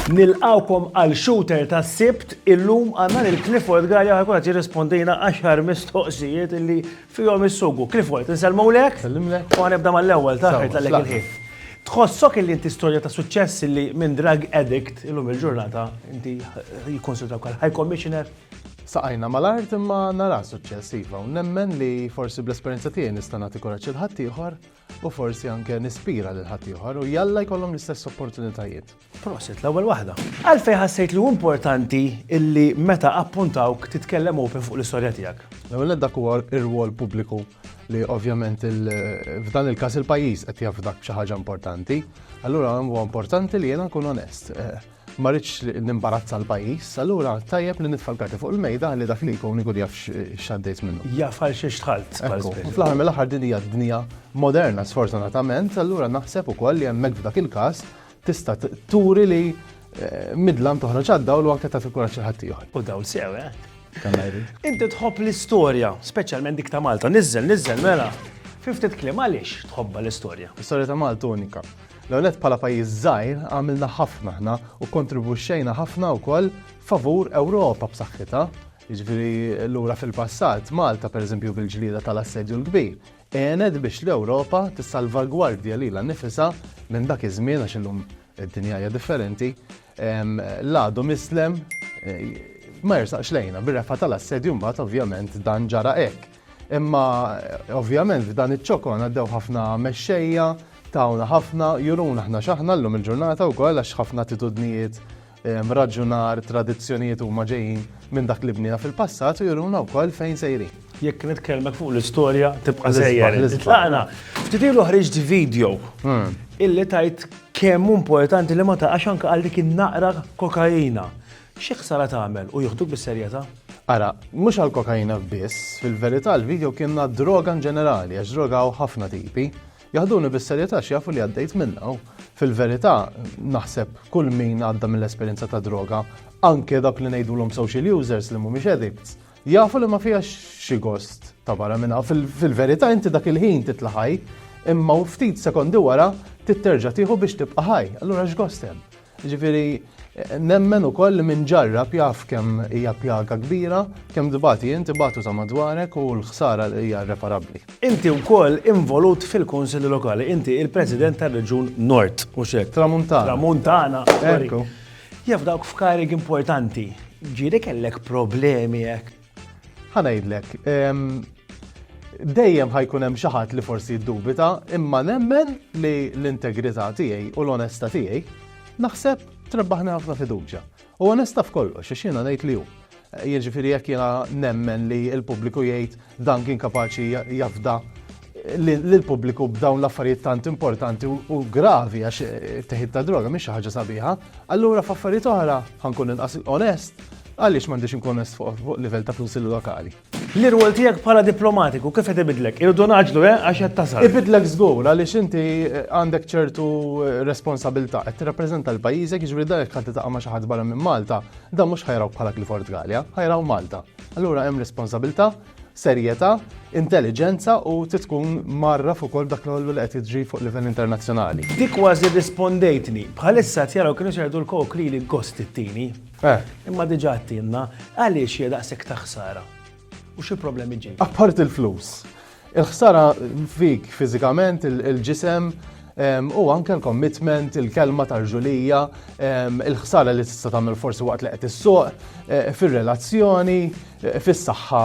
Nilqgħukom għal Shooter tas-Sibt. Illum għandna lil Clifford Galea ħajkun qed jirrispondilna għaxar mistoqsijiet li Fihom is-sugu. Clifford, insellmulek. Nsellimlek. U ħanibda mal-ewwel, ta' ħajt laqlek il-ħin. Tħossok illi inti storja ta' suċċess illi minn drug addict illum il-ġurnata inti jikkunsidraw bħala high commissioner? Saqajna mal-art imma nara suċċess iva u nemmen li forsi bl-esperjenza tiegħi nista' nagħti kuraġġ lil ħaddieħor. u forsi anke nispira lil ħaddieħor u jalla jkollhom l-istess opportunitajiet. Prosit, l-ewwel waħda. Għalfej ħassejt li importanti illi meta appuntawk titkellem open fuq l-istorja tiegħek. L-ewwel dak huwa r-rwol pubbliku li ovvjament f'dan il-każ il-pajjiż qed jaf dak xi ħaġa importanti. Allura huwa importanti li jiena nkun onest. Eh, Ma rridx nimbarazza l-pajjiż, allura tajjeb li nitfa' l-karti fuq il-mejda ħalli dak li jkun ikun jaf x'għaddejt minnu. Jaf għal xiex dħalt. Fl-aħħar mill-aħħar din hija d-dinja moderna sfortunatament, allura naħseb ukoll li hemmhekk f'dak il-każ tista' turi li eh, midlam toħroġ għad-dawl u anke tagħti kuraġġ il-ħadd ieħor. U dawl sew, eh? Inti tħobb l-istorja, speċjalment dik ta' Malta, niżel, niżel, mela. Fiftit kliem għaliex tħobba l-istorja? L-istorja ta' Malta unika. L-ewwel nett bħala pajjiż żgħir għamilna ħafna aħna u kkontribwixxejna ħafna wkoll favur Ewropa b'saħħitha. Jiġifieri lura fil-passat, Malta pereżempju bil-ġlieda tal-Assedju l-Kbir, għenet biex l-Ewropa tissalvagwardja lilha nnifisha minn dak iż-żmien għax illum id-dinja hija differenti, l-għadu mislem ma jersaqx lejna. Bir-refgħa tal-Assedju mbagħad ovvjament dan ġara hekk. Imma ovvjament f'dan iċ-ċokon għaddew ħafna mexxejja, tawna ħafna, juruna ħna x'aħna llum il-ġurnata wkoll għax ħafna attitudnijiet ehm, raġunar, tradizzjonijiet huma ġejjin minn dak li bnina fil-passat u juruna wkoll fejn sejrin. Jekk nitkellmek fuq l-istorja tibqa' sejjer. Tlaqna, ftit ilu ħriġt video hmm. illi tajt kemm importanti li ma taqax anke għal dik in-naqra kokaina. Xi ħsara tagħmel u jieħduk bis-serjetà? Ara, mhux għall-kokaina biss, fil-verità l-video kien għad-droga inġenerali għax droga hawn ħafna tipi. Jaħduni bis-serjetà għax jafu li għaddejt minnha u, fil-verità, naħseb kull min għadda mill-esperjenza tad-droga, anke dawk li ngħidulhom social users li mhumiex addicts, jafu li ma fiha xi gost ta' barra minn hawn. Fil-verità inti dak il-ħin titla' ħaj, imma ftit sekondi wara trid terġa' tieħu biex tibqa' ħaj. Allura x'gost hemm? Jiġifieri, nemmen ukoll li min ġarrab jaf kemm hija pjaga kbira, kemm tbati int, ibatu ta' madwarek u l-ħsara hija irreparabbli. Inti wkoll involut fil-Kunsilli Lokali. Inti il-President tar-Reġjun Nord, mhux hekk? Tramuntana. Tramuntana, sorry. Jaf dawk f'karigi importanti, ġieli kellek problemi hekk? Ħa ngħidlek, dejjem ħajkun hemm xi ħadd li forsi jiddubita, imma nemmen li l-integrità tiegħi u l-onesta tiegħi naħseb trebbaħni ħafna fiduċja. U onesta f'kollox, għax jiena ngħid li hu. Jiġifieri jekk jiena nemmen li l-pubbliku jgħid dan kien kapaċi jafda lill-pubbliku b'dawn l-affarijiet tant importanti u gravi għax eh, teħid ta' droga mhix xi ħaġa sabiħa, allura f'affarijiet oħra ħankun inqas onest għaliex m'għandix inkun onest fuq livell ta' kunsillu lokali. L-irwol tiegħek bħala diplomatiku kif qed ibidlek? Irdu naġlu eh għax qed tasal. Ibidlek żgur għaliex inti eh, għandek ċertu eh, responsabilità qed tirrappreżenta l-pajjiżek jiġri dak ħadd taqa' ma' xi ħadd barra minn Malta, dan mhux ħajraw bħala Clifford Gallia, ħajraw Malta. Allura hemm responsabilità serjetà, intelliġenza u trid tkun mgħarraf ukoll b'dak kollu li qed jiġri fuq livell internazzjonali. Dik kważi rrispondejtni. Bħalissa qed jaraw kienu se jgħidu l-Coke li li gost ittini. Imma diġà għedtilna għaliex hija daqshekk ta' ħsara u xi problemi ġejjin. Apparti l-flus, il-ħsara fik fiżikament, il-ġisem u anke l-commitment, il-kelma tal-ġulija, il-ħsara li tista' tagħmel forsi waqt li qed issuq, fir-relazzjoni, fis-saħħa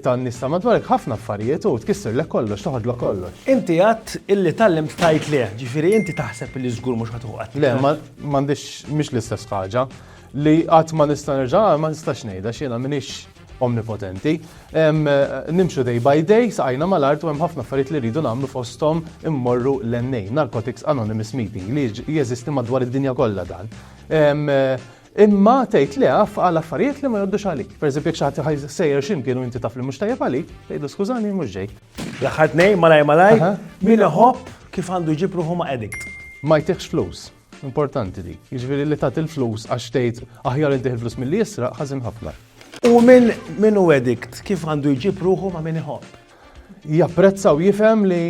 tan-nies ta' madwarek ħafna affarijiet u tkissirlek kollox, toħodlok kollox. Inti għedt illi tgħallimt tgħid le, ġifieri inti taħseb illi żgur mhux ħadd uħqat. Le, m'għandix mhix l-istess ħaġa. Li qatt ma nista' nerġa' ma nistax ngħidha għax jiena m'iniex omnipotenti. Nimxu day by day, saqajna mal-art u hemm ħafna affarijiet li rridu nagħmlu fosthom immorru l-NA, Narcotics Anonymous Meeting, li jeżisti madwar id-dinja kollha dan. Imma tgħid le af għal affarijiet li ma jgħoddux għalik. Per eżempju jekk xi ħadd ħajsejjer xi mkien u inti taf li mhux tajjeb għalik, tgħidlu skużani mhux ġejt. L-aħħar tnejn malajr malajr, min iħobb kif għandu jġib ruħu ma' addict? Ma jtihx flus. Importanti dik. Jiġifieri li tagħti l-flus għax tgħid aħjar intih il-flus milli jisraq ħażin ħafna. U min hu addict kif għandu jġib ruħu ma' min iħobb? japprezza u jifhem li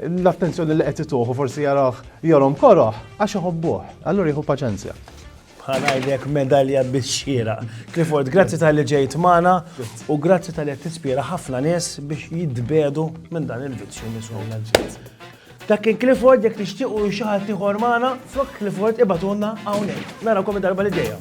l-attenzjoni li qed ituħu forsi jarah jorom koroħ għax iħobbuh, allura jieħu paċenzja. Ħanajlek medalja bix-xira. Clifford, grazzi tal-li ġejt magħna u grazzi tal-li tispira ħafna nies biex jitbedu minn dan il-vizzju nisuna. Dak kien Clifford jekk tixtiequ xi ħadd ieħor magħna, flok Clifford ibatulna hawnhekk. Narakom id-darba li ġejja.